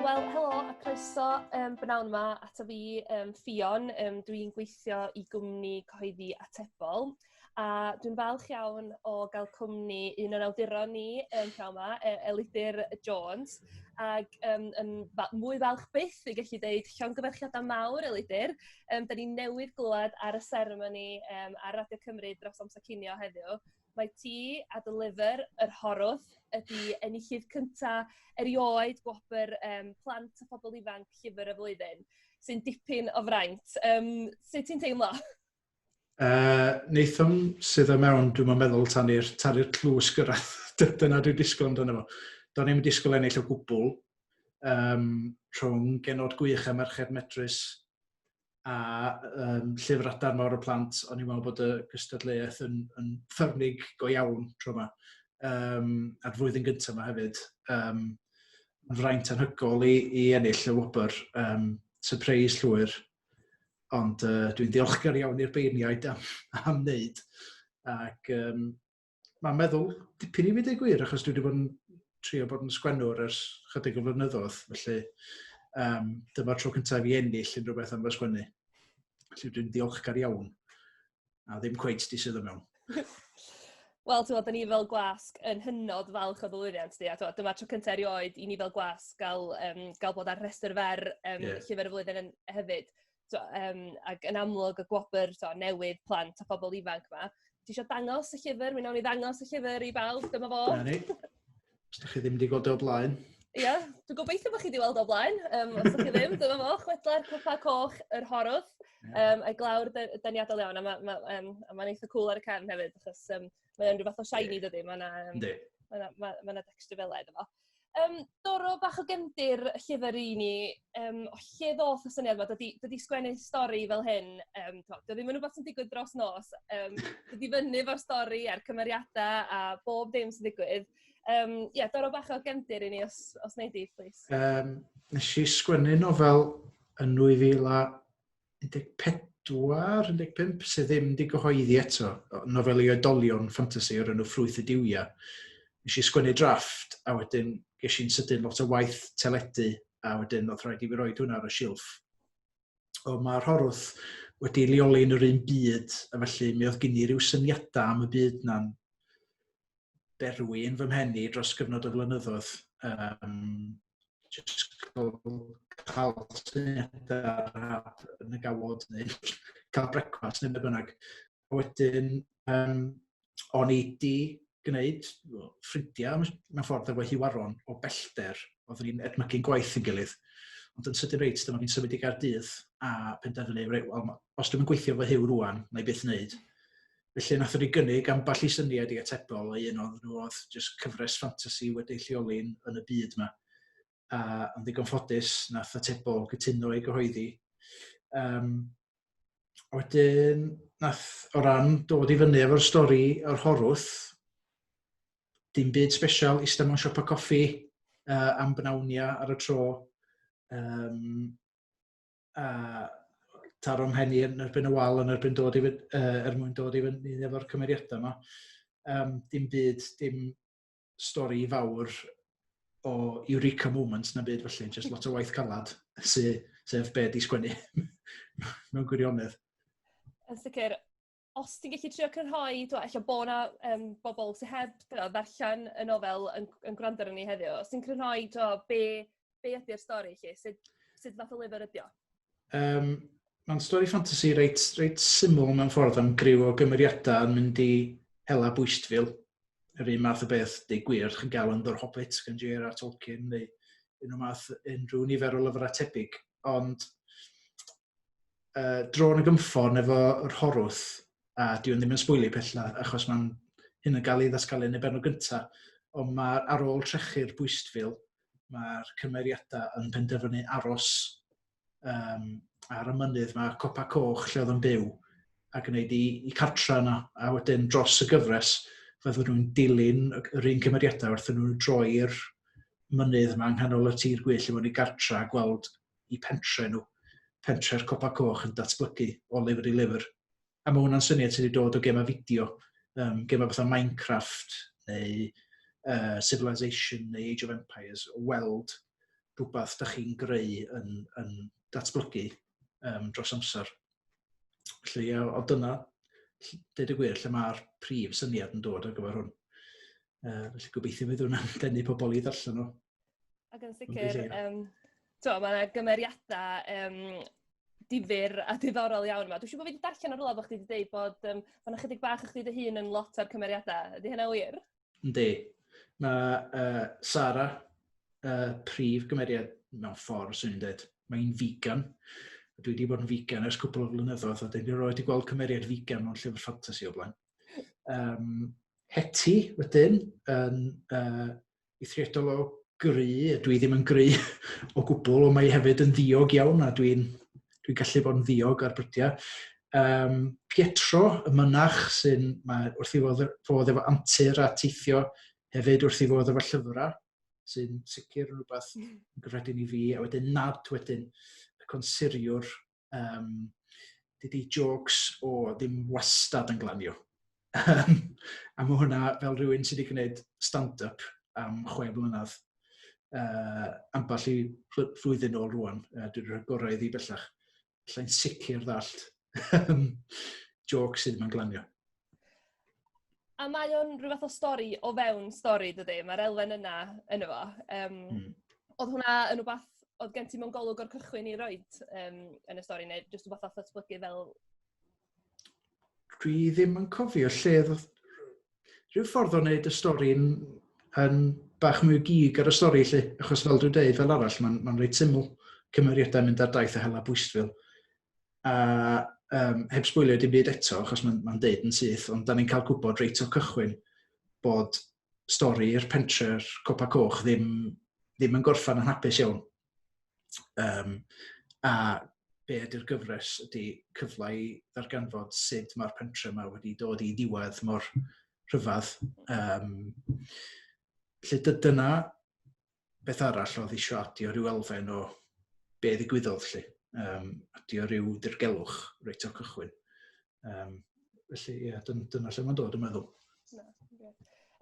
Wel, helo a croeso um, bnawn yma ato fi, um, Ffion. Um, dwi'n gweithio i gwmni cyhoeddi atebol a dwi'n falch iawn o gael cwmni un o'n awduron ni um, pnawn yma, e, Elidir Jones. Ac um, yn fa mwy falch byth i gallu dweud llongyfarchiadau mawr, Elidir, Yym, da ni newydd glywed ar y seremoni um, ar Radio Cymru dros amser cinio heddiw. Mae ti a dy lyfr, Yr Horwth, ydy enillydd cyntaf erioed gwobr um, plant a phobl ifanc llyfr y flwyddyn, sy'n dipyn o fraint. Um, sut ti'n teimlo? Uh, Nathan sydd y mewn, dwi'n meddwl, tan i'r tlws gyrraedd. Dyna dwi'n disgwyl amdano fo. Do'n i'n disgwyl ennill o gwbl, um, rhwng genod gwych a merched medrus a um, llyfr adar mawr y plant, o'n i'n meddwl bod y gystadleuaeth yn, yn ffyrnig go iawn tro yma. Um, a'r flwyddyn gyntaf yma hefyd, um, yn fraint anhygol i, i ennill y wobr, um, surprise llwyr. Ond uh, dwi'n diolchgar iawn i'r beirniaid am, am wneud. Ac um, mae'n meddwl dipyn i fi dweud gwir, achos dwi wedi bod yn trio bod yn sgwennwr ers chydig o flynyddoedd, felly um, dyma'r tro cyntaf i ennill unrhyw beth am fy sgwennu. Felly dwi'n ddiolchgar iawn, a ddim cweith di sydd yn mewn. Wel, ti'n ni fel gwasg yn hynod falch o ddylwyddiant di, a ti'n dyma'r tro cyntaf erioed i ni fel gwasg gael, um, gael bod ar rhestr fer um, yeah. llyfr y flwyddyn yn, hefyd. t'o' yym ag yn amlwg y gwobr t'o' newydd plant a phobol ifanc 'ma. Ti isio dangos y llyfr? Mi nawn ni ddangos y llyfr i bawb, dyma fo. 'Na ni. Os 'dych chi ddim 'di gweld e o blaen. Ia, dwi gobeithio bo' chi 'di weld o blaen, yym os 'dych chi ddim dyma fo, Chwedlau'r Cwpa Coch, Yr Horwth yym a'i glawr de- deniadol iawn a ma' ma' yym a ma'n eitha cŵl ar y cefn hefyd achos yym Mae o'n rhyw fath o shiny dydy, mae yna... Yndi. Mae yna, mae, mae yna dexture fel edrych fo. Um, Doro, bach o gyndir llyfr i ni, um, o lle ddoth y syniad yma, dydy, dydy sgwennu stori fel hyn, um, to, dydy ddim yn rhywbeth sy'n digwydd dros nos, um, dydy fyny fo'r stori a'r cymeriadau a bob dim sy'n digwydd. Um, yeah, Doro, bach o gyndir i ni os, os wneud i, please. Um, nes i sgwennu nofel yn 2000 14, 15, sydd ddim wedi gyhoeddi eto, nofel i oedolion ffantasi o'r enw Ffrwyth y Duwiau. Nes i sgwennu drafft, a wedyn ges i'n sydyn lot o waith teledu, a wedyn oedd rhaid i fi roed hwnna ar y silff. O, mae Rhorwth wedi leoli yn yr un byd, a felly mi oedd gen i ryw syniadau am y byd na'n berwi yn fy mhen i dros gyfnod o flynyddoedd. Um, just cael syniadau rhad yn y gawod neu cael brecwast neu bynnag. A wedyn, um, o'n i di gwneud ffrindiau mewn ffordd efo hiwaron o bellter. Oeddwn ni'n edmygu'n gwaith yn gilydd. Ond yn sydyn reit, dyma fi'n symud i Gaerdydd a penderfynu, well, os dwi'n gweithio fy hiw rwan, na i byth wneud. Felly nath ni gynnig ambell i syniad i atebol a un o'n nhw oedd jyst cyfres ffantasi wedi lleoli yn y byd yma. A yn ddigon ffodus nath atebol gytuno i gyhoeddi. Um, a wedyn nath o ran dod i fyny efo'r stori o'r horwth, dim byd special, eistedd mewn siopa coffi uh, am bnawnia ar y tro. Um, a taro mhen i yn erbyn y wal yn erbyn dod i fy- yy er mwyn dod i fyny efo'r cymeriadau 'ma. Yym dim byd dim stori fawr o eureka moment na byd felly jyst lot o waith calad sy sef be' 'di sgwennu mewn gwirionedd. Yn sicr. os ti'n gallu trio crynhoi t'mo' ella bo' 'na yym bobol sy heb t'mo' ddarllen y nofel yn g- yn gwrando arnon ni heddiw os ti'n crynhoi t'o' be' be' ydi'r stori 'lly sut sut fath o lyfyr ydi o? Yym ma'n stori ffantasi reit reit syml mewn ffordd am griw o gymeriadau yn mynd i hela bwystfil. Yr un math o beth di gwir chi'n gael yn The Hobbit gan J.R.R. Tolkien neu un o math unrhyw nifer o lyfrau tebyg ond uh, drôn y gymffon efo yr horwth, a diwn ddim yn sbwylio pella, achos mae'n hyn yn cael ei ddasgalu yn y benod gyntaf, ond mae ar ôl trechu'r bwystfil, mae'r cymeriadau yn penderfynu aros um, ar y mynydd, mae copa coch lle oedd yn byw, a gwneud i, i cartra yna, a wedyn dros y gyfres, fyddwn nhw'n dilyn yr un cymeriadau wrth nhw'n droi'r mynydd yma yng nghanol y tir gwyll i fod i gartra a gweld i pentre nhw, pentre'r Copa Coch yn datblygu o lyfr i lyfr. A mae hwnna'n syniad sydd wedi dod o gemau fideo, um, gemau fatha Minecraft neu uh, Civilization neu Age of Empires, o weld rhywbeth da chi'n greu yn, yn datblygu um, dros amser. Felly, o dyna, dweud y gwir, lle mae'r prif syniad yn dod ar gyfer hwn. Uh, felly gobeithio fydd hwnna'n denu pobl i ddarllen nhw. Ac yn sicr, um, to, mae yna gymeriadau um, difyr a diddorol iawn yma. Dwi'n siŵr bod fi wedi darllen ar rola bod chdi wedi dweud bod um, fan ychydig bach o'ch dy hun yn lot o'r cymeriadau. Ydy hynna wir? Yndi. Mae uh, Sara, uh, prif gymeriad mewn ffordd, sy'n i'n dweud, mae'n vegan. Dwi wedi bod yn vegan ers cwbl o flynyddoedd, a dyn ni roed i gweld cymeriad vegan mewn llyfr ffantasi o blaen. Um, Heti, wedyn, yn uh, eithriadol o gry, dwi ddim yn gry o gwbl, ond mae hefyd yn ddiog iawn a dwi'n dwi gallu bod yn ddiog ar brydiau. Um, Pietro, y mynach sy'n, mae wrth i fod, fod efo antur a teithio hefyd wrth i fod efo llyfrau, sy'n sicr yn rhywbeth yn gyffredin i fi, a wedyn nad wedyn y consuriwr Um, dydy jokes o ddim wastad yn glanio. Um, a mae hwnna fel rhywun sydd wedi gwneud stand-up am chwe blynedd uh, amball i flwyddyn ôl rwan. Uh, dwi'n rhoi gorau iddi bellach. Lle'n sicr ddallt jokes sydd yma'n glanio. A mae o'n rhyw fath o stori o fewn stori, dydy? Mae'r elfen yna yn efo. Um, mm. Oedd hwnna yn rhywbeth oedd gen ti mewn golwg o'r cychwyn i roed um, yn y stori, neu jyst rhywbeth oedd datblygu fel... Dwi ddim yn cofio lle oedd... Rhyw ffordd o wneud y stori yn, yn bach mwy gig ar y stori, lle, achos fel dwi'n dweud, fel arall, mae'n ma reit syml cymeriadau mynd ar daith a hela bwystfil. a um, heb sbwylio dim byd eto, achos mae'n ma deud yn syth, ond da ni'n cael gwybod reit o cychwyn bod stori'r pentre'r Copa Coch ddim, ddim yn gorffan yn hapus iawn. Um, a be ydy'r gyfres ydy cyfle i ddarganfod sut mae'r pentre yma wedi dod i ddiwedd mor rhyfedd. Um, lle dyna beth arall oedd eisiau adio rhyw elfen o be ddigwyddodd lle. Um, adio rhyw dirgelwch reit o'r cychwyn. Um, felly, ie, yeah, dyn, dyna lle mae'n dod, yn meddwl. No, okay.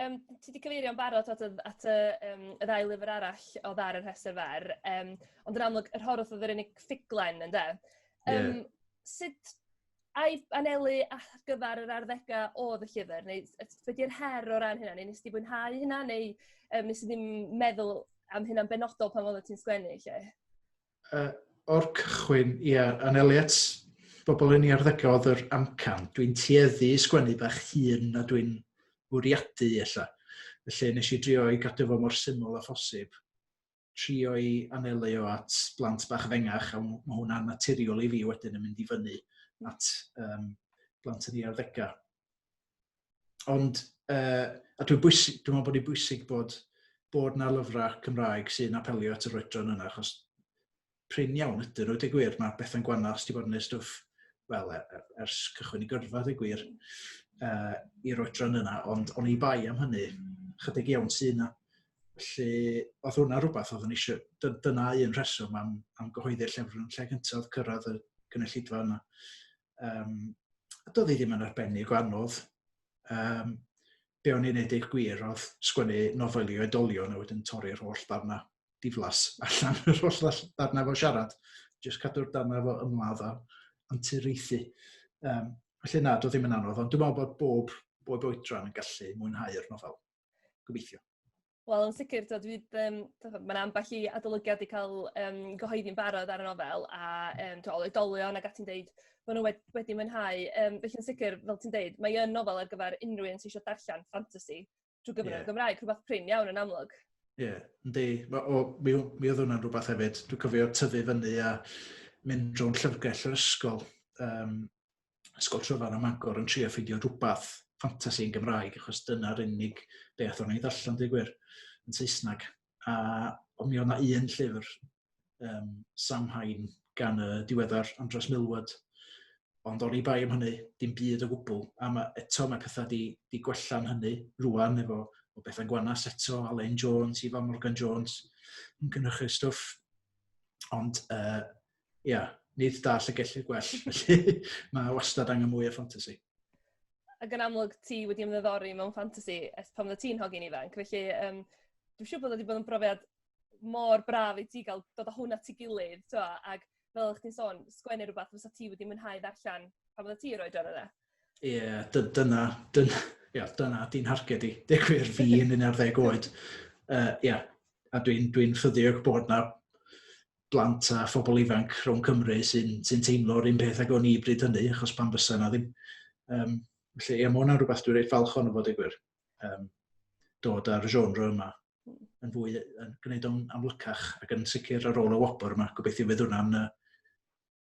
Um, ti wedi cyfeirio'n barod at, at y, um, y ddau lyfr arall o ddar yr hester fer, um, ond yn amlwg, yr horwth oedd yr unig ffuglen, ynddo? Um, yeah. Sut Ai anelu ar gyfer yr arddegau oedd y llyfr, neu yy be 'di'r her o ran hynna, neu wnest ti fwynhau hynna, neu yym wnes di ddim meddwl am hynna'n benodol pan oeddet ti'n sgwennu 'lly? Yy o'r cychwyn, ia, anelu at bobl yn 'u arddegau oedd yr amcan. Dwi'n tueddu i sgwennu bach hŷn na dwi'n fwriadu ella. Felly nes i drio i gadw fo mor syml â phosib. trio i anelu o at blant bach fengach, a mae hwnna'n naturiol i fi wedyn yn mynd i fyny at um, blant yn ei arddegau. Ond, uh, a dwi'n bwysig, dwi'n meddwl bod hi'n bwysig bod, bod na lyfrau Cymraeg sy'n apelio at yr oedran yna, achos prin iawn ydyn nhw, dweud gwir, mae Bethan Gwanaf, os ti bod yn ei stwff, wel, er, er, ers cychwyn i gyrfa, dweud gwir, uh, i'r oedran yna, ond o'n i bai am hynny, chydig iawn sy'n yna. Felly, oedd hwnna rhywbeth oedd yn eisiau, dyna un rheswm am, am gyhoeddi'r llyfr yn lle gyntaf cyrraedd y gynulleidfa yna. Um, doedd hi ddim yn arbennig o anodd. Um, be o'n i'n neud eich gwir oedd sgwennu nofel i oedolion a wedyn torri'r holl ddarna diflas allan yr holl ddall- ddarnau fo siarad, jyst cadw'r darnau fo ymladd a anturiaethu. Um, felly na, doedd ddim yn anodd, ond dwi'n meddwl bod bob, bob oedran yn gallu mwynhau'r nofel. Gobeithio. Wel, yn sicr, dod fydd, um, mae'n ambell i adolygiad wedi cael um, gyhoeddi'n barod ar y nofel, a um, to, oedolion ac ati'n deud, maen nhw wedi, wedi mwynhau. Um, felly, yn sicr, fel ti'n deud, mae yn nofel ar gyfer unrhyw un sy'n eisiau darllen ffantasi, drwy gyfer yeah. y Gymraeg, rhywbeth prin iawn yn amlwg. Ie, yeah, yndi. Mi, mi oedd hwnna'n rhywbeth hefyd. Dwi'n cofio tyfu fyny a mynd drwy'n llyfrgell yr ysgol, um, ysgol tryfan am agor yn trio ffeindio rhywbeth ffantasi yn Gymraeg, achos dyna'r unig beth o'n i'n ddarllen, dwi'n gwir, yn Saesneg. a o mi oedd yna un llyfr, um, Samhain, gan y diweddar Andros Milward, ond o'n i bai am hynny, dim byd o gwbl, a mae, eto mae pethau di, di gwella'n hynny rwan efo o bethau gwanas eto, Alain Jones, Ifan Morgan Jones, yn gynnychu stwff, ond uh, ia, nid da llygellu y gwell, felly mae wastad angen mwy o ffantasi. Ac yn amlwg, ti wedi ymddiddori mewn ffantasi ers pan fydde ti'n hogyn ifanc, felly um, dwi'n siŵr bod wedi bod yn brofiad mor braf i ti gael dod o hwnna ti gilydd, twa, ac fel ych ti'n sôn, sgwennu rhywbeth fysa ti wedi mwynhau ddarllen pan fydde ti roed oedran yna. Ie, yeah, dyna, dyna, yeah, dyna di'n harged i. Deg gwir fi yn un ar ddeg oed. Ie, uh, yeah. a dwi'n dwi ffyddiog bod na blant a phobl ifanc rhwng Cymru sy'n sy teimlo'r un peth ag o'n i bryd hynny, achos pan fysa yna ddim. Um, felly, ie, mae hwnna'n rhywbeth dwi'n reit falch o'n fod i gwir. Um, dod â'r genre yma hmm. yn fwy, yn gwneud o'n amlycach ac yn sicr ar ôl y wobr yma, gobeithio fydd hwnna'n uh,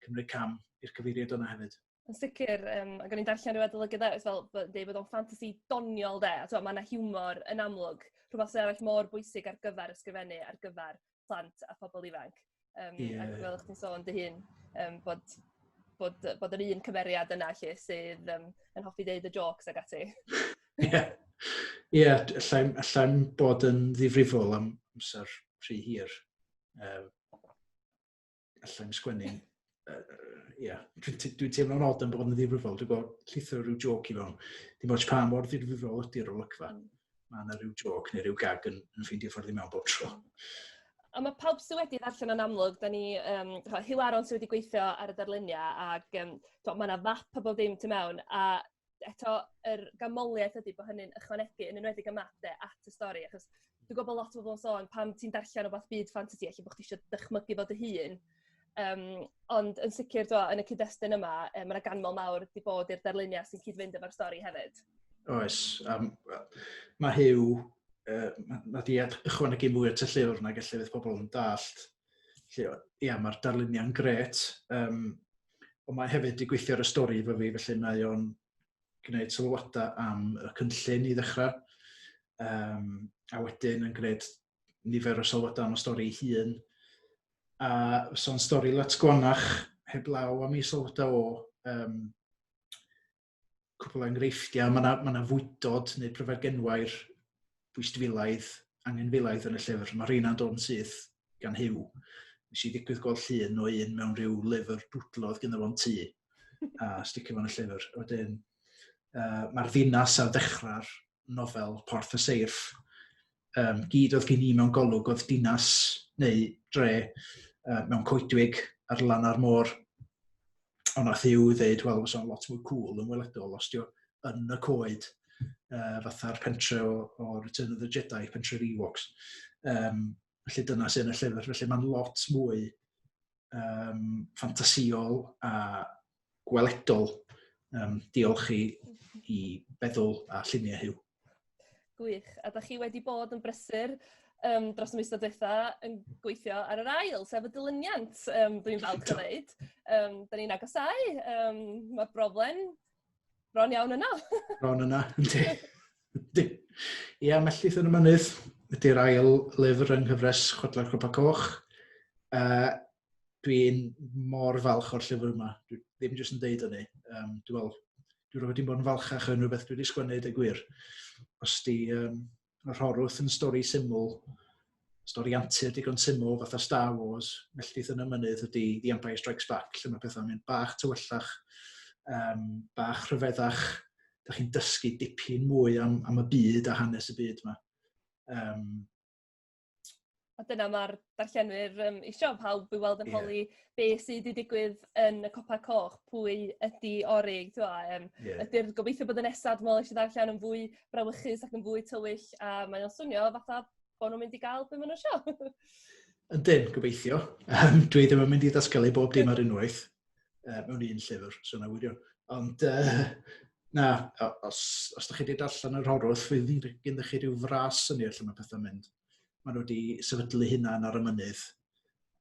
cymryd cam i'r cyfeiriad yna hefyd. Yn sicr yym ac o'n i'n darllen ryw adolygydd eryll fel bod yn deud bod o'n ffantasi doniol 'de a t'mo' ma' 'na hiwmor yn amlwg rhwbath sy arall mor bwysig ar gyfar ysgrifennu ar gyfar plant a phobol ifanc yym... Ie. ...ac fel o'ch ti'n sôn dy hun yym bod bod yy bod yr un cymeriad yna 'lly sydd yym yn hoffi deud y jôcs ag ati. Ie. Ie d- allai'm allai'm bod yn ddifrifol am amser rhy hir yym. allai'm sgwennu, uh, yeah, dwi'n dwi teimlo'n od yn bod yn ddifrifol, dwi'n gweld llithro rhyw joc i fewn. Dim oes pa mor ddifrifol ydy'r olygfa. Mm. Mae yna rhyw joc neu rhyw gag yn, yn ffeindio ffordd i mewn bob tro. A mae pawb sydd wedi ddarllen yn amlwg, da ni, um, Hugh Aron sydd wedi gweithio ar y darluniau, ac um, mae yna fap a bob dim tu mewn, a eto yr ganmoliaeth ydi bo' hynny'n ychwanegu yn enwedig y map 'de at y stori achos dwi gwbo bo' lot o bobol yn sôn pan ti'n darllen rwbath byd ffantasi elle bo' chdi isio dychmygu fo dy hun yym ond yn sicir t'wo' yn y cyd-destun yma yy ma' 'na ganmol mawr 'di bod i'r darluniau sy'n cyd-fynd efo'r stori hefyd. Oes yym wel ma' Huw yy ma' ma' 'di ed- ychwanegu mwy at y llyfr nag elle fydd pobol yn dallt Felly, ia, mae'r darluniau'n gret, um, ond mae hefyd wedi gweithio ar y stori efo fi, felly mae o'n gwneud sylwadau am y cynllun i ddechrau, um, a wedyn yn gwneud nifer o sylwadau am y stori ei hun. A so'n stori lot gwanach, heblaw am ei sylwadau o, um, cwpl o enghreifftiau, mae yna, ma fwydod neu pryfed genwair bwystfilaidd, angenfilaidd yn y llyfr. Mae rheina'n dod yn syth gan hyw. Nes i ddigwydd gweld llun o un mewn rhyw lyfr dwdlodd gyda fo'n tŷ a sticio fo'n y llyfr. Wedyn, uh, mae'r ddinas ar ddechrau'r nofel Porth y Seirff um, gyd oedd gen i mewn golwg oedd dinas neu dre uh, mewn coedwig ar lan ar môr. Ond nath i'w ddeud, wel, fysa'n lot mwy cool yn weledol os diw yn y coed uh, fatha'r pentre o, o Return of the Jedi, pentre'r Ewoks. Um, felly dyna sy'n y llyfr. Felly mae'n lot mwy um, ffantasïol a gweledol. Um, diolch i, i feddwl a lluniau hyw. Gwych. A da chi wedi bod yn brysur um, dros y mis diwetha yn gweithio ar yr ail, sef y dilyniant, um, dwi'n falch o ddeud. Um, da ni'n agosau. Um, Mae'r broblem bron iawn yna. bron yna, yndi. Ia, yeah, Melltith yn y Mynydd ydy'r ail lyfr yng nghyfres Chwedlau Copa Coch. Uh, dwi'n mor falch o'r llyfr yma. Dwi ddim jyst yn deud hynny. Um, dwi'n meddwl, dwi'n rhywbeth wedi bod yn falchach yn rhywbeth dwi wedi sgwennu, dweud gwir. Os di, um, Mae Rhorwth yn stori syml, stori antur digon syml fatha Star Wars, melltith yn y mynydd ydy The Empire Strikes Back, lle mae pethau'n mynd bach tywyllach, um, bach rhyfeddach, da chi'n dysgu dipyn mwy am, am y byd a hanes y byd yma. Um, A dyna ma'r darllenwyr yym isio pawb i weld yn holi... Ie. ...be' sy 'di digwydd yn y copa coch pwy ydi Ori t'mo' yym... Ie. ...ydi'r gobeithio bod y nesa dwi me'wl nes i ddarllen yn fwy brawychus ac yn fwy tywyll a mae o'n swnio fatha bo' nw'n mynd i ga'l be' ma' n'w isio. Ydyn gobeithio yym dwi ddim yn mynd i ddatgelu bob dim ar unwaith. uh, mewn un llyfr, so na wirio. Ond uh, na, os, os da chi wedi darllen yr horwth, fydd gen chi rhyw fras yn ei lle mae pethau'n mynd. Mae nhw wedi sefydlu hynna ar y mynydd,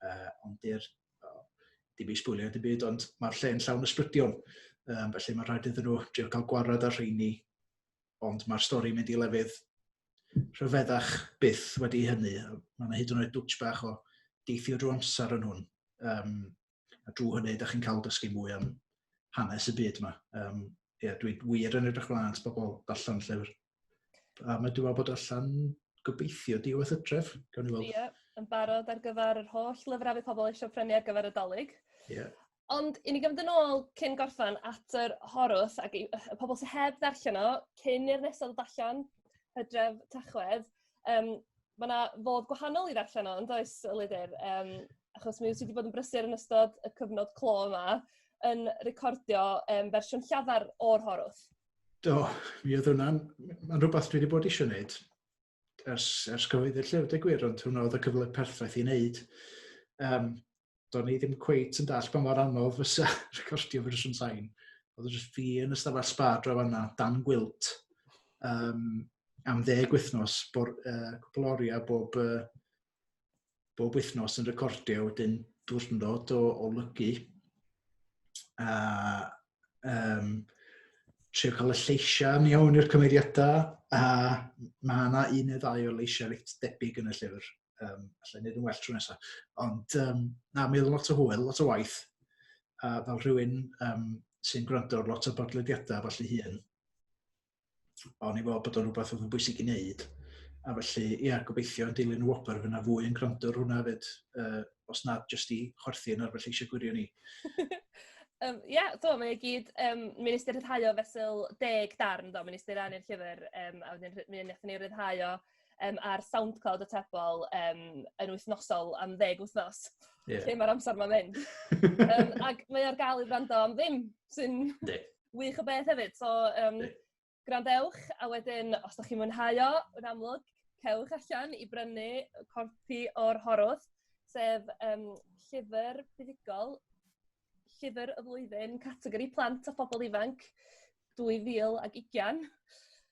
uh, ond di'r dim i sbwylio dim byd, ond mae'r lle'n llawn ysbrydion. Um, felly mae'n rhaid iddyn nhw drio cael gwarad ar rheini, ond mae'r stori mynd i lefydd rhyfeddach byth wedi hynny. Mae yna hyd yn oed dwtch bach o deithio drwy amser yn hwn. Um, A drwy hynny, ydych chi'n cael dysgu mwy am hanes y byd yma. Um, ie, yeah, dwi'n wir yn edrych mlaen at bobl allan llyfr. A mae dwi'n meddwl bod allan gobeithio diwedd y tref, gawn ni weld. Ie, yn barod ar gyfer yr holl lyfrau bydd pobl eisiau prynu ar gyfer y dolyg. Ie. Yeah. Ond i ni gymryd yn ôl cyn gorffan at yr horwth ac y pobl sy'n heb ddarllen o, cyn i'r nesaf ddod allan, hydref, tachwedd, Yym ma' 'na fodd gwahanol i ddarllen o yndoes yy Lydyr yym achos mi wyt ti 'di bod yn brysur yn ystod y cyfnod clo 'ma yn recordio yym fersiwn llafar o'r Horwth. Do mi oedd hwnna'n m- ma'n rwbath dwi 'di bod isio neud ers ers cyhoeddi'r llyfr deu gwir ond hwnna oedd y cyfle perffaith i neud. Yym. do'n i ddim cweit yn dall pa mor anodd fysa recordio fersiwn sain. Oedd jyst fi yn y stafell spa dro fanna, dan gwilt, um, am ddeg wythnos, bor, uh, cwpl oriau bob, uh, bob wythnos yn recordio, wedyn diwrnod o, o lygu. A um, trio cael y lleisiau yn iawn i'r cymeriadau, a mae yna un neu ddau o leisiau reit debyg yn y llyfr. Um, allai wneud yn well tro nesaf. Ond um, na, mi oedd lot o hwyl, lot o waith. A fel rhywun um, sy'n gwrando ar lot o bodlediadau falle hun, o'n i fod bod o'n rhywbeth oedd yn bwysig i wneud. A felly, ia, yeah, gobeithio yn dilyn y wobr fyna fwy yn gwrando ar hwnna fyd, uh, os nad jyst i chwerthu yn arfer lleisio gwirio ni. Um, ia, yeah, do, mae'n gyd, um, mi'n ystyr rhyddhau o fesul deg darn, do, mi'n ystyr annu'r llyfr, um, a wedyn mi'n eithaf ni rhyddhau o um, ar SoundCloud y tebol um, yn wythnosol am ddeg wythnos. Yeah. Lle mae'r amser mae'n mynd. um, ac mae ar gael i wrando am ddim, sy'n wych o beth hefyd. So, um, gwrandewch, a wedyn, os da chi'n mwynhau o, yn amlwg, cewch allan i brynu corpi o'r horwth, sef um, llyfr buddugol llyfr y flwyddyn, categori plant a phobl ifanc 2020.